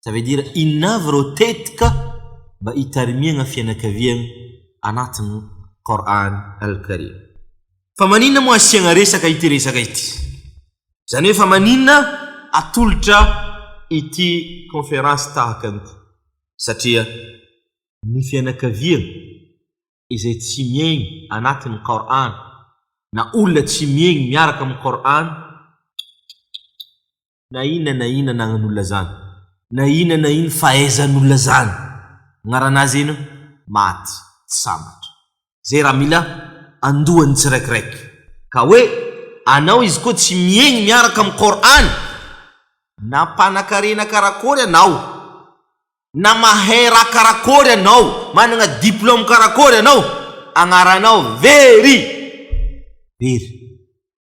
ça veut dire inona avy ireo tetika mba hitarimihana fianakaviana anatin'ny Qur'an Al-Karim. Fa maninona moa asiana resaka ity resaka ity? Izany hoe fa maninona atolotra ity conférence tahaka an'ity? Satria ny fianakaviana izay tsy miaigny anatin'ny Qur'an na olona tsy miaigny miaraka amin'ny Qur'an Na inona na inona anagnan'olona zany, na inona na ino fahaizan'olona zany, agnarana azy eno, maty, tsy sambatra. Zay raha mila andohan'ny tsiraikiraiky. Ka hoe anao izy koa tsy miegny miaraka amin'ny Qur'an, na mpanakarena karakôry anao, na mahay raha karakôry anao, managna diplôme karakôry anao, agnaranao very! Very!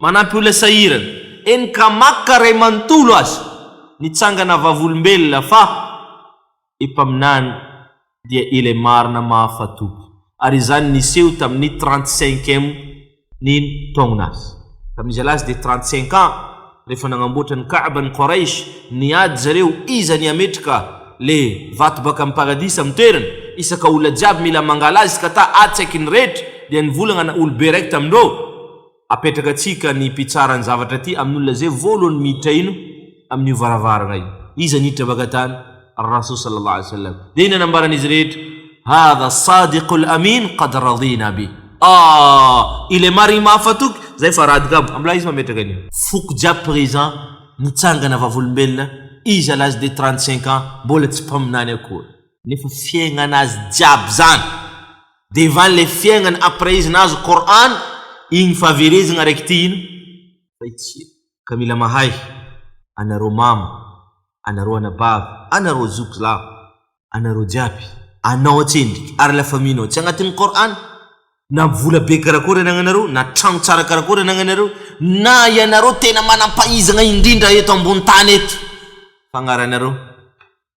Manampy olona sahirana, eny ka maka ray manontolo aza nitsangana vavolombelona fa epaminany dia ilay marina mahafatoky ary izany niseho tamin'ny trente cinq ème ny taogna azy tamin'izy lahy azy dia trente cinq ans rehefa nagnamboatra ny Ka'ba ny Qouraysh niady zareo iza ny hametraka le vato baka amin'ny paradisa amin'ny toerany isaka olona jiaby mila mangala azy ka ta atsaiky ny rehetra dia nivolagna olo-be raiky tamindreo Apetraka antsika ny mpitsara ny zavatra ity amin' olona izay voalohany miditra ino amin' io varavarana io. Iza niditra baka tany? Ar-Rasul sallallahu alaihi wasallam. Dia iny anambaran' izy rehetra, Hadha as-sadiqul amin qad radina bih. Aah! Ilay marigny mahafatoky, zay fa rad kamo. Amla izy mametraka ny. Foko jiaby présent, nitsangana vavolombelona, izy à l'âge de trente-cinq ans mbola tsy mpaminany akory. Nefa fiaignana azy jiaby zany. Dia va ilay fiainana après izy nahazo Qur'an igny fahaverezagna raiky ty ino? Zay tsia ka mila mahay anareo mama, anareo anabavy, anareo zoky lahy, anareo jiaby, anao atsendriky ary la famille nao tsy agnatin'ny Qur'an, na vola be karakory anagnanareo, na tragno tsara karakory anagnanareo, na ianareo tena manam-pahizagna indrindra eto ambony tany eto, fagnaranareo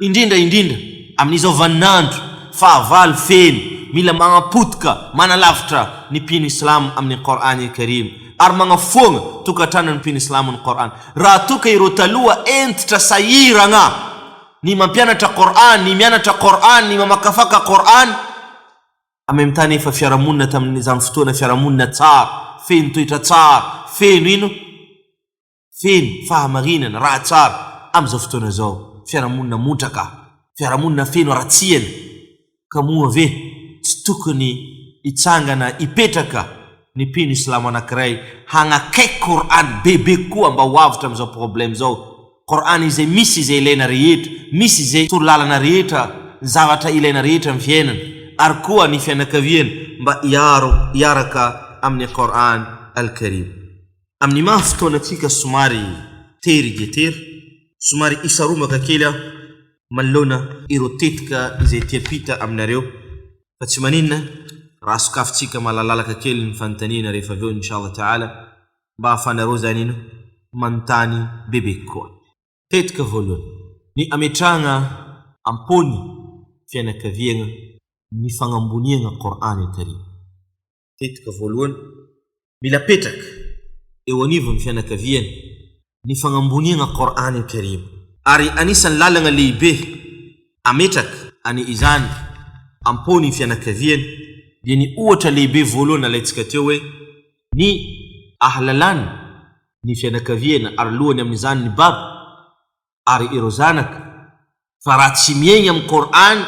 Indrindra indrindra amin'izao vaninandro fahavalo feno, mila manapotika manalavitra ny mpino islamo amin'ny Qour'an el Karim ary magnafoagna tokantranon'ny mpino islamo ny Qour'an. Raha toa ka ireo taloha hentitra sahiragna ny mampianatra Qour'an, ny mianatra Qour'an, ny mamakafaka Qour'an, en même temps nefa fiarahamonina tamin'izany fotoana fiarahamonina tsara, feno toetra tsara, feno ino, feno fahamarinana, raha tsara, amin'izao fotoana izao, fiarahamonina montraka, fiarahamonina feno haratsiana, ka moa ve tsy tokony hitsangana hipetraka ny mpino islamo anankiray hagnakaiky Qur'an bebe kokoa mba ho avotra amin'izao problème izao, Qur'an izay misy izay ilaina rehetra, misy izay torolalana rehetra, ny zavatra ilaina rehetra amin'ny fiainana, ary koa ny fianakaviana mba hiaro hiaraka amin'ny Qur'an Al-Karim. Amin'ny maha fotoanantsika somary tery dia tery, somary hisaromaka kely aho manoloana ireo tetika izay ety ampita aminareo fa tsy maninona raha sokafintsika malalalaka kely ny fanontaniana rehefa avy eo inshallah ta'ala mba ahafahanareo izany ino manontany bebe kokoa. Tetika voalohany, ny ametrahana am-pon'ny fianakaviagna ny fagnamboniagna Qor'an Al-Karim. Tetika voalohany, mila apetraka eo anivon'ny fianakaviana ny fagnamboniagna Qor'ane Karim. Ary anisan'ny lalagna lehibe ametraka any izany am-pon'ny fianakaviana dia ny ohatra lehibe voalohany nalaintsika teo hoe ny ahalalana ny fianakaviana ary lohany amin'izany ny baba ary ireo zanaka, fa raha tsy miaigny amin'ny Kor'any,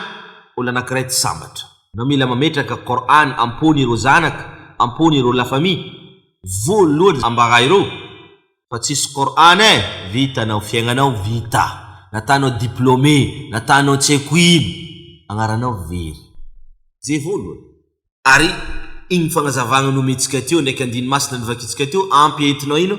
olo anakiray tsy sambatra. Na mila mametraka Kor'any am-pony ireo zanaka, am-pony ireo la famille, voalohany ambara ireo fa tsisy Kor'any eh! vita anao, fiaignanao vita, natanao diplômé, natanao tsy haiko ino, agnaranao very. Zay voalohany. Ary igny fagnazavagna nomentsika teo, ndraiky andiny masina novakitsika teo, ampy entinao ino?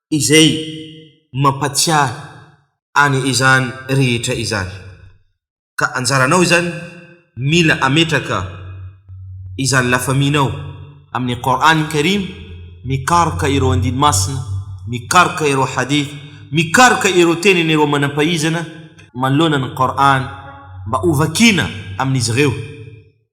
izay mampatsiahy any izany rehetra izany. Ka anjaranao izany mila ametraka izany lafaminao amin'ny Qur'an Karim, mikaroka ireo andiny masina, mikaroka ireo hadith, mikaroka ireo tenin'ireo manam-pahaizana manoloana ny Qur'an mba ho vakiana amin'izy ireo.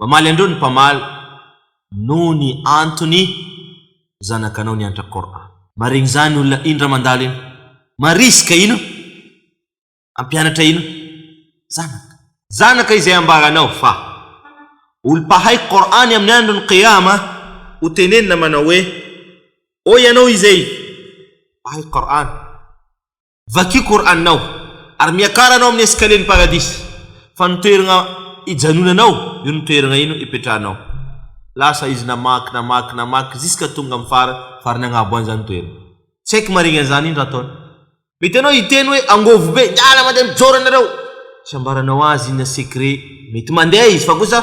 Mamaly andreo ny mpamaly noho ny antony zanakanao niantra Coran. Marigny zany olona ino ra mandalo ino marisque ino ampianatra ino zanaka. Zanaka izay ambaranao fa olo mpahay Coran amin'ny andron'ny Qiyama ho tenenina manao hoe ô ianao izay mpahay Coran Vakio Koraninao ary miakara anao amin'ny eskalien'ny Paradisa, fa ny toeragna ijanonanao io ny toeragna ino ipetrahanao. Lasa izy namaky, namaky, namaky ziska tonga amin'ny fara, farany agnabo any zany toeragna. Tsy haiko marigny an'izany ino raha ataony. Mety anao hiteny hoe angovo be, miala mandeha mijoro anareo. Tsy ambaranao azy iny na secret, mety mandeha izy fa kosa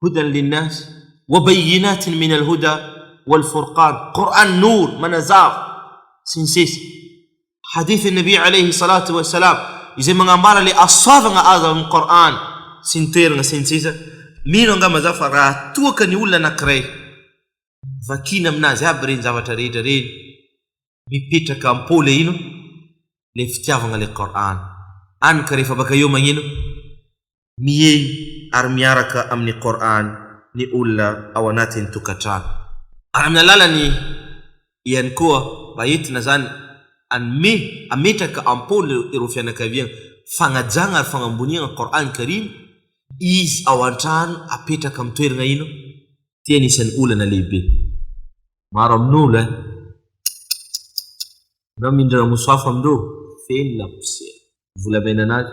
Hudan linnas, wa bayyinatin min al-huda wal furqan, Qur'an Nour, manazava, sy ny sisa Hadith an'i Nabi alayhi salatu wa salam izay magnambara le asoavagna azo avy amin'ny Qur'an sy ny toeragna sy ny sisa Mino angamba zaho fa raha toa ka ny olona anankiray vakina aminazy aby reny zavatra rehetra reny mipetraka am-po le ino le fitiavagna le Qur'an any ka rehefa baka eo magnino Mihehy ary miaraka amin'ny Qour'an ny olona ao anatin'ny tokantrano. Ary amin'ny alalan'ny ihany koa mba entina izany hanome, hametraka am-poana ireo fianakaviana fagnajagna ary fagnamboniagna Qour'an Karim, izy ao an-trano apetraka amin'ny toeragna ino? Ty anisan'ny olana lehibe maro amin'olo eh. Kikikikikiki. Anao mindra ramosafo amindreo feno laposiera. Volamena anazy.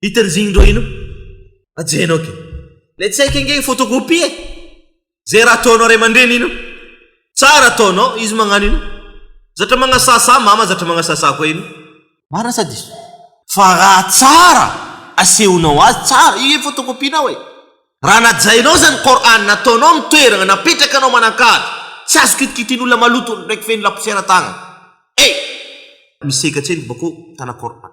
Hiterizigny ndreo ino? Ajenao ke. Le tsy haiko ange photocopie e. Ze raha ataonao ray aman-dreny ino? Tsara ataonao, izy magnano ino? Zatra magnasasa, mama zatra magnasasa koa ino? Marina sa diso? Fa raha tsara asehonao azy, tsara, io e photocopie-nao e. Raha najainao zany Qur'an, nataonao ny toeragna, napetrakanao manan-kaja, tsy azo kitikitian'olona maloto ndraiky feno laposiera tagna. Hey! Misy seka tsendriky bakô mitana Qur'an.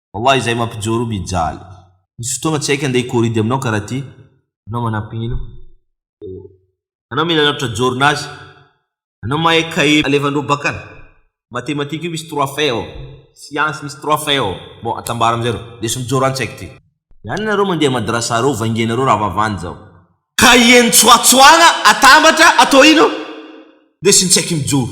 Wallah izay mampijoro mijaly. Misy fotoagna tsy haiko andeha hikoridy aminao karaha ty. Anao manampino oh. Anao mila lavitra jorona azy. Anao mahay cahier alevandreo bakany. Mathématique io misy trois faits ao. Science misy trois faits ao. Bon atambara amizay reo. Leso mijoro any tsy haiko ty. Ihany nareo mandeha madrasa reo vaingenareo raha vavany zao. Cahier nitsoatsoagna atambatra atao ino? Lesy ny tsy haiko mijoro.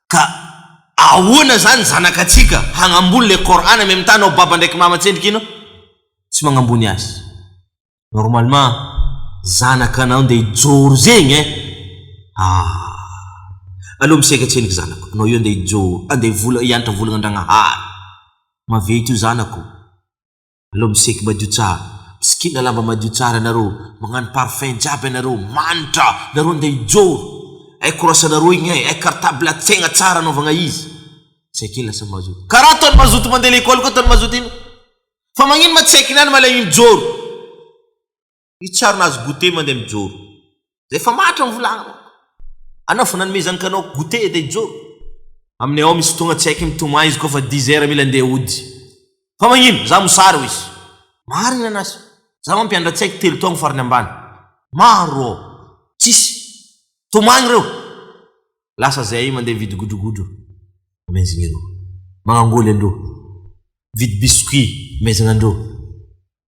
Ka ahoana izany zanaka tsika hagnambony le Qur'an amy mitana ho baba ndraiky mama tsendriky ino tsy magnambony azy normalement zanaka anao nde hijoro zegny eh ah aleo misaika tsendriky zanako anao io nde hijoro ande vola hiantra volagna Andragnahary maventy io zanako Aleo miseky madio tsara, misikina lamba madio tsara ianareo, magnano parfum jiaby ianareo, manitra nareo ndeha hijoro, hay korasanareo igny hay, hay cartable atsaigna tsara anaovagna izy, tsy ake lasa mazoto, karaha ataony mazoto mandeha lekôly koa ataony mazoto igny, fa magnino ma tsy haikinany ma le igny mijoro. Io tsarina azo goûter mandeha mijoro. Zay fa matra ny volagna manko. Anao fa nanomezan kanao goûter de hijoro. Aminay ao misy fotoagna tsy haiky mitomany izy kôfa dix heures mila ndeha hody. Fa magnino? Za mosary hoy izy. Marigny anasy. Za manko mpianatra tsy haiky telo taogno farany ambany. Maro ô. Tsisy. Tomagny reo. Lasa zahay mandeha mividy godrogodro. Amezigny ireo. Magnangoly andreo. Mividy biscuit. Amezagna andreo.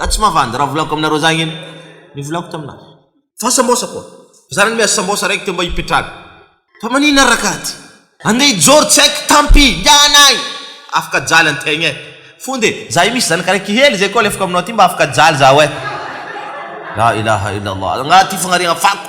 Za tsy mavandy raha volako aminareo za anie ny volako taminazy. Fa sambosa koa. Za nanome azy sambosa raiky teo mba hipetraka. Fa maninona rakady. Andeha hijoro tsy haiko tampy ingahy anay afaka jaly antegna eh. Fonja e. Za io misy zanaka raiky hely zay koa alefako aminao aty mba afaka jaly zaho eh. La ilaha illallah. Rangahy ty fagnariagna fako.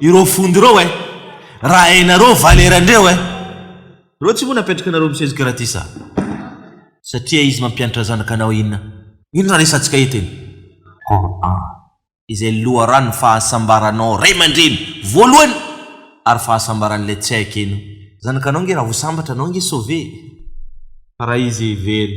Ireo fondy ireo eh. Raha hainareo valera ndreo eh. Reo tsy moa napetraka nareo misesy gratis a. Satria izy mampiantra zanaka anao inona. Inona resatsika eto iny. Coran. Izay loharano fahasambaranao ray mandreny voalohany ary fahasambaran'ilay tsy hay keno. Zanaka anao nge raha vosambatra anao nge sauver. Fa raha izy very.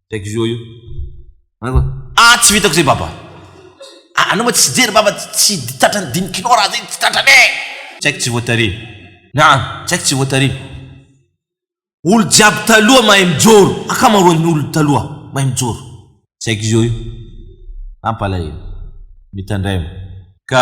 Texio io. Aiwa. Ah tsy vitako zay baba ah anao ma tsy jery baba tsy tratran'ny dimy kilao raha zay tsy tratrany eh tsy haiko tsy voatare ah tsy haiko tsy voatare olo jiaby taloha mahay mijoro akamaroan'ny olo taloha mahay mijoro tsy haiko zio io ampalahelo mitandraima ka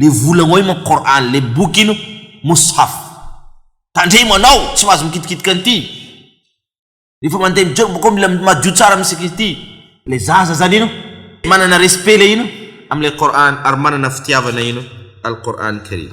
le vola oay manko Qur'an le boky ino Mushaf tandremo anao tsy mahazo mikitikitika an'ity rehefa mandeha mijoro bakao mila madio tsara misy ankizy ity le zaza zany ino manana respect le ino amle Qur'an ary manana fitiavana ino Al-Qur'an Karim.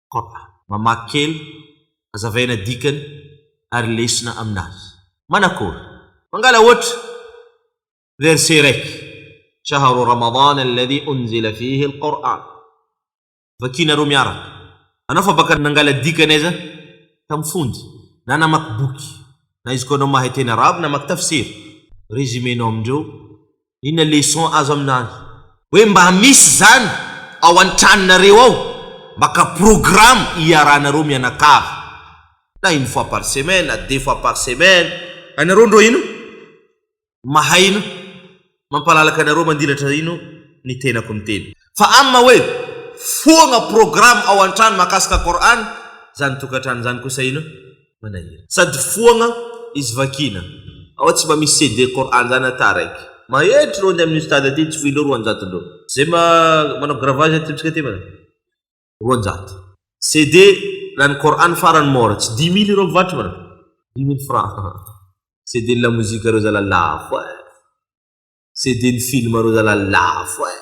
Kop. Mamaky kely, hazavaina dikany ary lesona aminazy. Manakory? Mangala ohatra, verset iraiky, Shahru Ramadana alladhi unzila fihi al-Qur'an. Vakiana roa miaraka. Anao fa baka nangala dikany aiza? Tamin'ny fonja, na namaky boky, na izy koa anao mahay teny arabo namaky tafsir. Résumé-nao amindreo Inona leçon azo aminany? Hoe mba misy izany ao an-tranonareo ao? Maka programme hiaranareo mianakavy na une fois par semaine na deux fois par semaine. Anareo ndro ino mahay ino mampalalaka anareo mandilatra ino ny tenako miteny fa amma hoe foagna programme ao an-trano mahakasika Qur'an zany tokantrano zany kosa ino? manahirana. Sady foagna izy vakina. Ao tsy mba misy CD Coran zany ata araiky. Mahery trondro amin'ny Ustad aty tsy voinao roanjato ndrô. Zay manao gravage aty amitsika aty manao roanjato. CD lany Coran farany mora tsy dimy mille ireo mivarotry manao. Dimy mille francs. CD ny lamozika reo zala lafo eh. CD ny film reo zala lafo eh.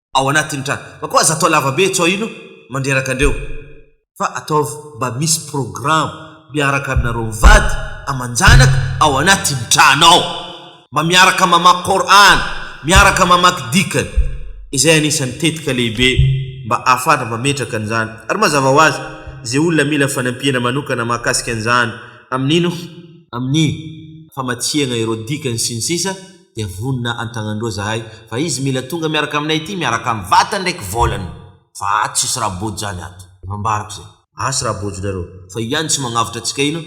ao anatin'ny trano fa koa aza atao lava be etsy aoilo mandreraka andreo fa ataovy mba misy programa miaraka aminareo mivady amanjanaka ao anatin'ny trano ao mba miaraka mamaky Qur'an miaraka mamaky dikany izay anisan'ny tetika lehibe mba ahafahatra mametraka an'izany ary mazava ho azy izay olona mila fanampiana manokana mahakasika an'izany amin'ino amin'ny famatsiana ireo dikany sy ny sisa dia vonona antagnandroa zahay fa izy mila tonga miaraka aminay ity miaraka am vatany ndraiky vôlany fa ato tsisy raha bôjo zany ato efa ambarako zay. Asy raha bôjo nareo fa io ihany tsy magnavotra atsika ino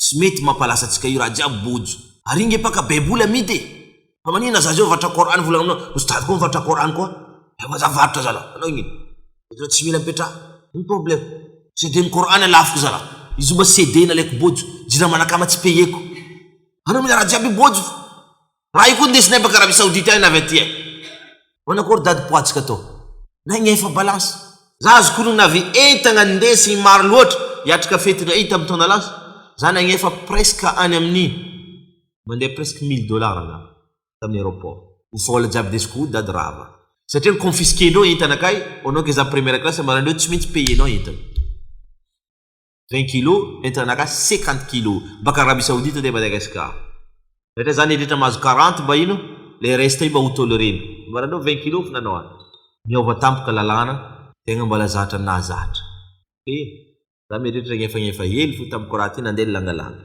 tsy mety mampalasa atsika io raha jiaby bôjo. Ary inge paka baiboly amidy e! Fa maninona za zao mivarotra coran vola aminao, misy tady koa mivarotra coran koa, efa za varotra zalahy, anao ino? Bôjo tsy mila mipetraha, ino problème? CD-n'ny coran lafo zalahy, izy io mba CD nalaiko bôjo, jirama anakama tsy payeko. Anao mila raha jiaby bôjo fa raha io koa ndesinay baka Arabie Saoudite any na avy aty any. Manao akory dady poatsika atao nay ny efa balance. Za azo konono avy entagna ndesiny maro loatra hiatrika fety ray tam taona lasa za nagnefa presque any aminy mandeha presque mille dollars angamba taminy aeroport ny vola jiaby ndesiko o dady rava satria ny confisquer ndreo entana kay onao ke za première classe maranindreo tsy mintsy payer nao entana 20 kilo entana gasy 50 kilo baka Arabie Saoudite aty Madagascar rehetra zany heretra mahazo 40 mba ino le reste io mba ho tolerena mba nareo 20 kilo fa nanao any miova tampoka lalàna tegna mbola zatra nahazatra eh za mieretra egnefa egnefa hely fo tamiko raha ty nandeha ny langalanga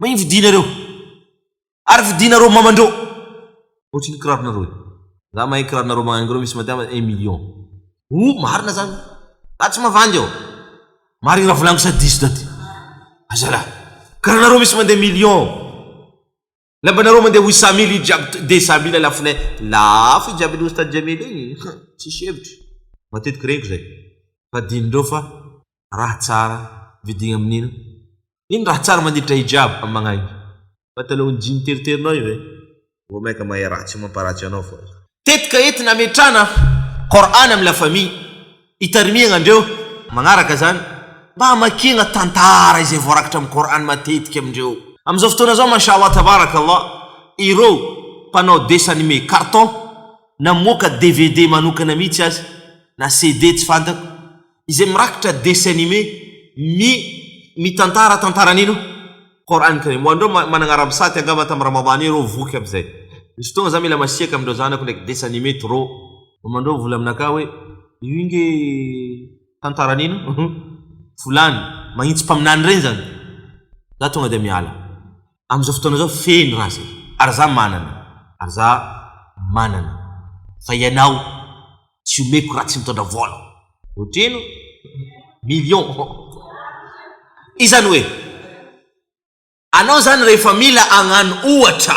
Mahay mividia nareo. Ary vidianareo mamandreo. Ohatry ny kiraronareo e. Za mahay kiraronareo magnangy reo misy madiava un million. Oh marina zany. Za tsy mavandy aho. Marigny raha volagniko sa diso dady. Aza lah. Kiraronareo misy mandeha million. Lambanareo mandeha huit cent mille io jiaby deux cent mille lafonay. Lafo io jiaby an'i Oustad Jamil igny. Tsisy hevitry. Matetiky reniko zay. Fa adinondreo fa. Raha tsara, vidina amin'ino? Ino raha tsara mandritra hijab amin'ny mangainga? Pataloha jean teriterinao io ve? Vao mainka mahay ratsy mamparatsy anao fô. Tetika entina ametrahana Qour'an amin'ny la famille, itarimiagna andreo magnaraka zany, mba hamakiagna tantara izay voarakitra amin'ny Qour'an matetika amindreo. Amin'izao fotoana zao Masha'Allah Tabarakallah, ireo mpanao dessin animé, carton, namoaka dvd manokana mihitsy aza, na CD tsy fantako, izay mirakitra dessin anime mi mitantara tantara ny no Qoran Karim ho an'ireo ma managna arabe sahty angamba tam Ramadan io reo voky aby zay misy fotoagna za mila masiaka amindreo zanako ndraiky dessin anime trop mamandreo mivola aminakahy hoe io nge tantara ny no volany magnitsy mpaminany regny zany za tonga dia miala Amin'izao fotoana izao feno raha izay. Ary za manana. Ary za manana. Fa ianao tsy omeko raha tsy mitondra vola. Otrino? Million. Izany hoe anao izany rehefa mila hagnano ohatra.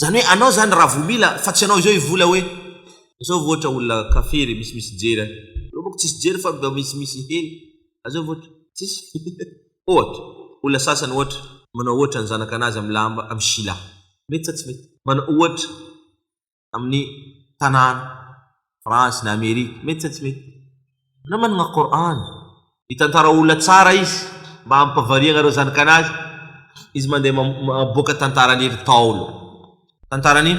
Zany hoe anao zany raha vo mila fa tsy anao izao i vola hoe zao vo ohatra olona café re misy misy jery any zao moko tsisy jery fa mba misy misy he a zao vo ohatra tsisy ohatra olona sasany ohatra manao ohatra ny zanaka anazy am lamba am sila mety sa tsy mety manao ohatra aminy tanàna France na Amerika mety sa tsy mety anao managna Qur'an mitantara olona tsara izy mba hampavariagna reo zanakanazy izy mandeha maboaka tantaran'ny ry taolo tantaran'ny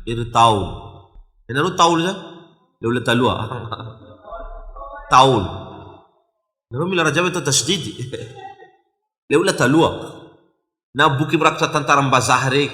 ry taolo ianareo taolo zany le olona taloha taolo ianareo mila raha jiaby atao tasdidy le olona taloha na boky mirakitra tantaram-bazaha regny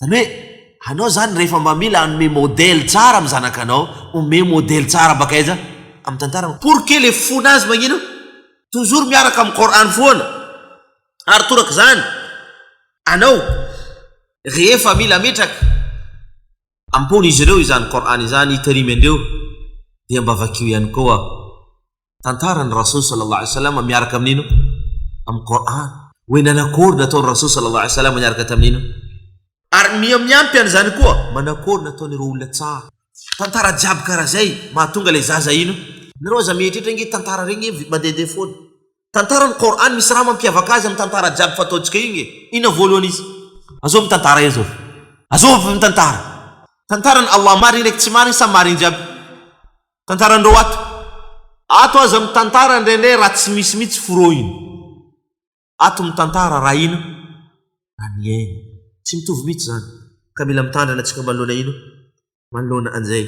Zany hoe anao zany rehefa mba mila hanome modèle tsara amin'ny zanakanao, omeo modèle tsara baka aiza? Amin'ny tantara. Pour que le fona azy magnino? Toujours miaraka amin'ny Coran foana. Ary toraka izany anao rehefa mila ametraka am-pon'izy ireo izany Coran izany hitarimy andreo dia mba vakio ihany koa. Tantara ny Rasool Sallallahu Alaihi Wasallam miaraka amin'ino? Amin'ny Qur'an. Hoe nanakôry nataon'ny Rasool Sallallahu Alaihi Wasallam niaraka tamin'ino? Ary miha miampy an'izany koa, manakôry nataon'ireo olona tsara? Tantara jiaby karaha izay mahatonga ilay zaza ino? Nareo aza mieritreritra nge tantara regny mandehandeha foana. Tantara ny Qur'an misy raha mampiavaka azy amin'ny tantara jiaby fa ataontsika io nge. Inona voalohany izy? Azôvy ny tantara eo zao. Azôvy ny tantara. Tantaran'i Allah marigny ndraiky tsy marigny sa marigny jiaby? Tantarandreo ato. Ato aza mitantara ndray ndray raha tsy misy mitsy forohiny. Ato mitantara raha ino raha niaina. Tsy mitovy mitsy zany. Ka mila mitandrina tsika manoloana ino? Manoloana anzay.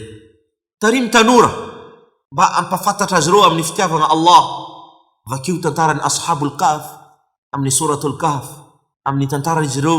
Tarimo tanora mba ampafantatra azy ireo amin'ny fitiavagna Allah. Vakio tantaran'ny Ashabul Kahf amin'ny Souratul Kahf amin'ny tantaran'izy ireo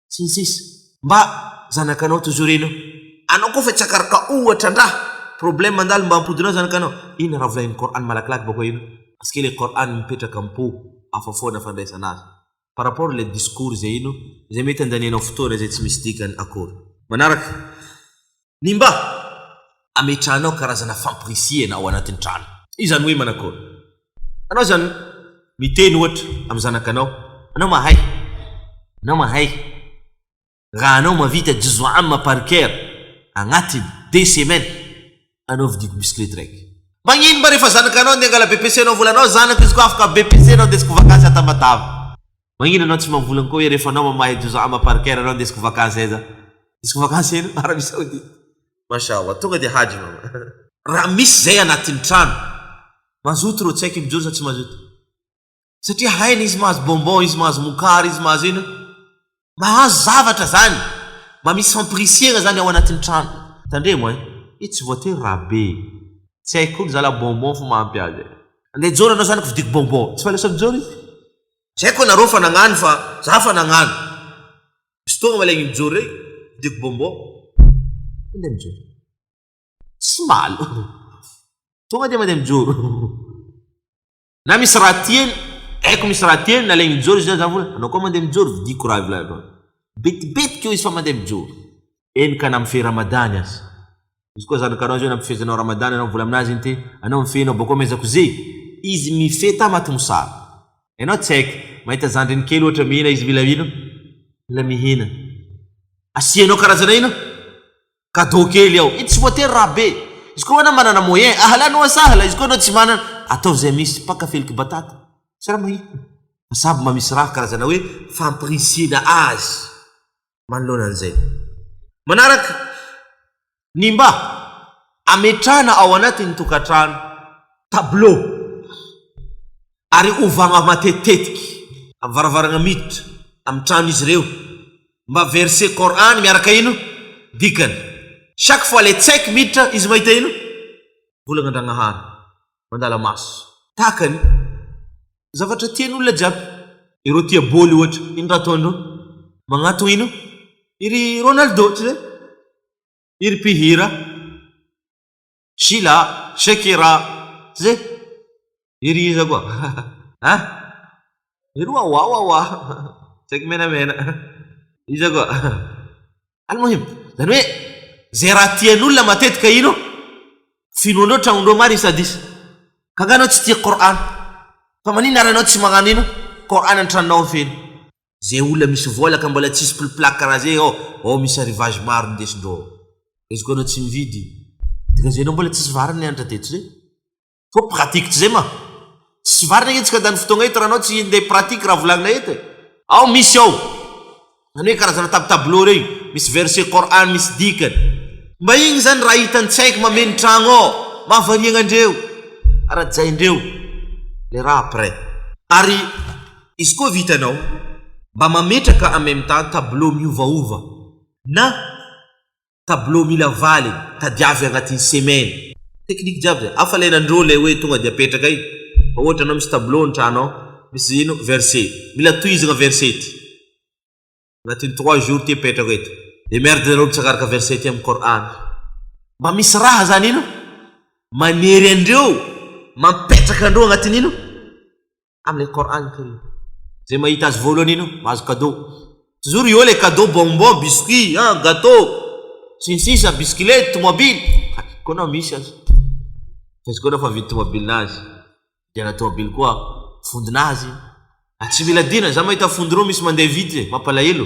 sy ny sisa. Mba zanakanao toy izao ireny eo. Anao koa fa tsy akaroka ohatra ndra problème mandalo mba ampodinao zanakanao. Inona raha volahin'ny Coran malakilaky bako eo iny? Parce que le Coran mipetraka am po hafa foana fandraisana azy. Par rapport ilay discours izay ino izay mety andanianao fotoana izay tsy misy dikany akory. Manaraka, Ny mba ametrahanao karazana fampirisihana ao anatin'ny trano. Izany hoe manakory? Anao izany miteny ohatra amin'ny zanakanao, Anao mahay. Anao mahay. Raha anao mavita juzu amma par cœur agnatiny deux semaines, anao vidiko bisikilety raiky. Magnino mba rehefa zanakanao andeha angala BPC-nao volanao, Zanako izy koa afaka BPC-nao andesiko vakansy à Tamatave. Magnino anao tsy mamboly ankoho e refa anao mamahay doza ama parker anao ndesiko vacance aiza ndesiko vacance eno arabie saoudite. Masha Allah tonga dia hajy mama. Raha misy zay anatiny trano. Mazoto rô tsy haiko mijoro sa tsy mazoto satria hainy izy mahazo bonbon izy mahazo mokary izy mahazo ino mahazo zavatra zany mba misy fampirisiagna zany ao anatiny trano tandremo ein i tsy voatery raha be tsy haiko koa ny zala bonbon fo mahampy azy e. Andeha hijoro anao zanako vidiko bonbon tsy fa lasa mijoro izy Tsy haiko ianareo fa nagnano fa za fa nagnano. Misy fotoagna malay ny mijoro rey, vidiko bonbon. Mandeha mijoro. Tsy malo. Tonga dia mandeha mijoro. Na misy raha tiany, haiko misy raha tiany, nalaigny mijoro izy na za vola, anao koa mandeha mijoro, vidiko raha vilaigny. Betibetiky eo izy fa mandeha mijoro. Eny ka na mifehy Ramadany aza. Izy koa zanaka anao zay nampifehy anao Ramadan anao mivola aminazy iny te anao mifehy anao boko ameza koze izy mifehy tamaty mosary enao tsaiky mahita zandriny kely ohatra mihina izy mila ino mila mihina asianao karazana ino cadeau kely ao itsy voatery raha be izy koa anao manana moyen ahala noa sahala izy koa anao tsy manana atao zay misy paka feliky batata sy raha mahita samy mamisy raha karazana hoe fampirisiana azy manoloana an'izay. Manaraka ny mba ametrahana ao anatin'ny tokantrano tableau ary ovana matetitetiky amin'ny varavarana miditra amin'ny tranon'izy ireo mba verset coran miaraka ino dikany. Chaque fois ilay tsaiky miditra izy mahita ino? Volana Andragnahary. mandala maso. Tahaka ny. Zavatra tiany olona jiaby. Ireo tia bôly ohatra. Ino raha ataondreo? Magnatogna ino? I ry Ronaldo, tsy zay? I ry mpihira. Sheila, Shakira, tsy zay? I ry iza koa? Ha? I ry Wawawawa, tsaiky menamena. Iza koa? Al-Muhim, izany hoe izay raha tian'olona matetika ino? Finoany eo tragnony eo ma ry sadis? Ka nga anao tsy tia Qur'an? Fa maninona ary anao tsy magnano ino? Qur'an an-tranonao ao feno. Zay olona misy vola ka mbola tsisy pliplaky karaha zay ao, ao misy arrivage maro ndesindreo ao. Izy koa anao tsy mividy, dika zay anao mbola tsisy vary ny hanitra teto zay. Koa pratique tsy zay manko. Tsy varina itsy ka da ny fotoagna eto raha anao tsy nde pratique raha volagnina eto e. Ao misy ao. Zany hoe karazana tab tableau rey misy verset Coran misy dikany. Mba igny zany raha hitan'i tsy haiko mameno tragno ao mahavariagna andreo. Arajaindreo le raha après. Ary izy koa vitanao mba mametraka en même temps tableau miovaova na. tableau mila valiny, tadiavy agnatin'ny semaine. Technique jiaby zay, hafa lay nandrô lay hoe tonga dia apetraka io, fa ohatra anao misy tableau ny trano ao, misy ino verset, mila tohizagna verset ty, agnatin'ny trois jours ty apetrako eto, de merde nareo mitsaka araka verset ty amin'ny Coran, mba misy raha zany ino manery andreo mampetraka andreo agnatin'ino. amin'ny Al-Qour'an Karim. Zay mahita azy voalohany iny mahazo cadeau. Toujours eo le cadeau bonbon, biscuit, an, gateau, sy ny sisa, bisikilety, tomobily. Koa na misy aza. Fa izy koa na fa vidy tomobilinazy, vidiana tomobily koa fondinazy. Tsy mila dina, za mahita fondy roa misy mandeha vite, mampalahelo.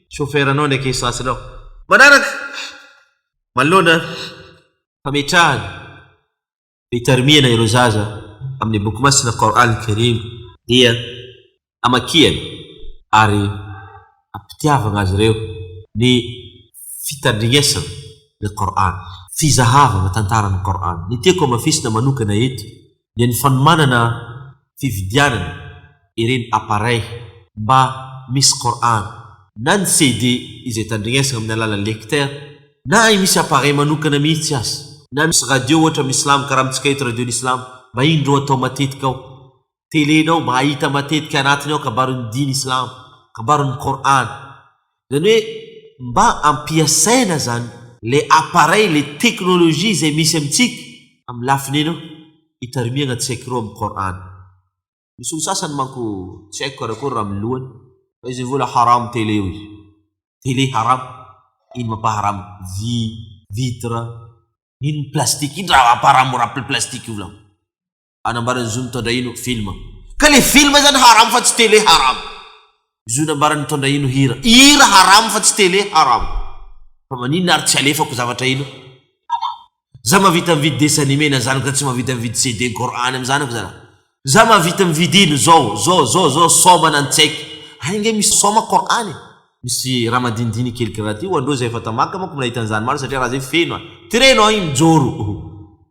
chauffeur nao ndraiky essence nao. Manaraka, manoloana fametrahana fitarimiana ireo zaza amin'ny boky masina Qour'an Karim dia amakiany ary ampitiavagna azy ireo ny fitandrignesana ny Qour'an, fizahavagna tantaran'ny Qour'an. Ny tiako hamafisina manokana eto dia ny fanomanana fividianana ireny appareil mba misy Qour'an na ny CD izay tandregnesana amin'ny alalan'ny lecteur na hay misy appareil manokana mihitsy aza na misy radio ohatra amin'ny Islam karaha amintsika eto Radio-n'ny Islam mba indro atao matetika ao tele-nao mba hahita matetika anatiny ao kabarin'ny Dina Islam, kabarin'ny Qour'an. Izany hoe mba ampiasaina izany ilay appareil, ilay teknolojia izay misy amintsika amin'ny lafiny eny eo, hitarimiagna tsy haiko ireo amin'ny Qur'an. Misy olo sasany manko tsy haiko karakory raha amin'ny lohany fa izy mivola haram tele hoy izy. Tele haram, ino mampaharam? Vy, vitre, ino ny plastique, ino raha mampaharam raha plastique volagno. Anambaran'i Zo Nitondrahino film. Ka le film zany haram fa tsy télé haram. Zo nambaran'i Nitondrahino hira. Hira haram fa tsy télé haram. Fa maninona ary tsy alefako zavatra ino? Haram. Za mahavita mividy dessin animé na zanako za tsy mahavita mividy CD ny Coran am zanako za. Za mahavita mividy ino zao zao zao zao soma na ny tsy haiko. Any nge misy soma Coran e. Misy raha madinidiny kely karaha ty ho andreo zay efa tamaka manko mnahita an'zany maro satria raha zay feno a. Ty re no ain mijoro.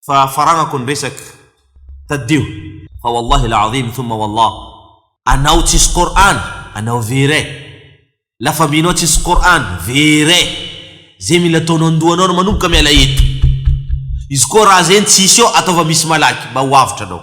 fa faranako ny resaka tadidio fa wallahi l'azim thumma wallah anao tsisy Qur'an anao vere la famille nao tsisy Qur'an vere ze mila ataonao andohanao no manomboka miala eto izy koa raha zegny tsisy eo ataova misy malaky mba ho avotra anao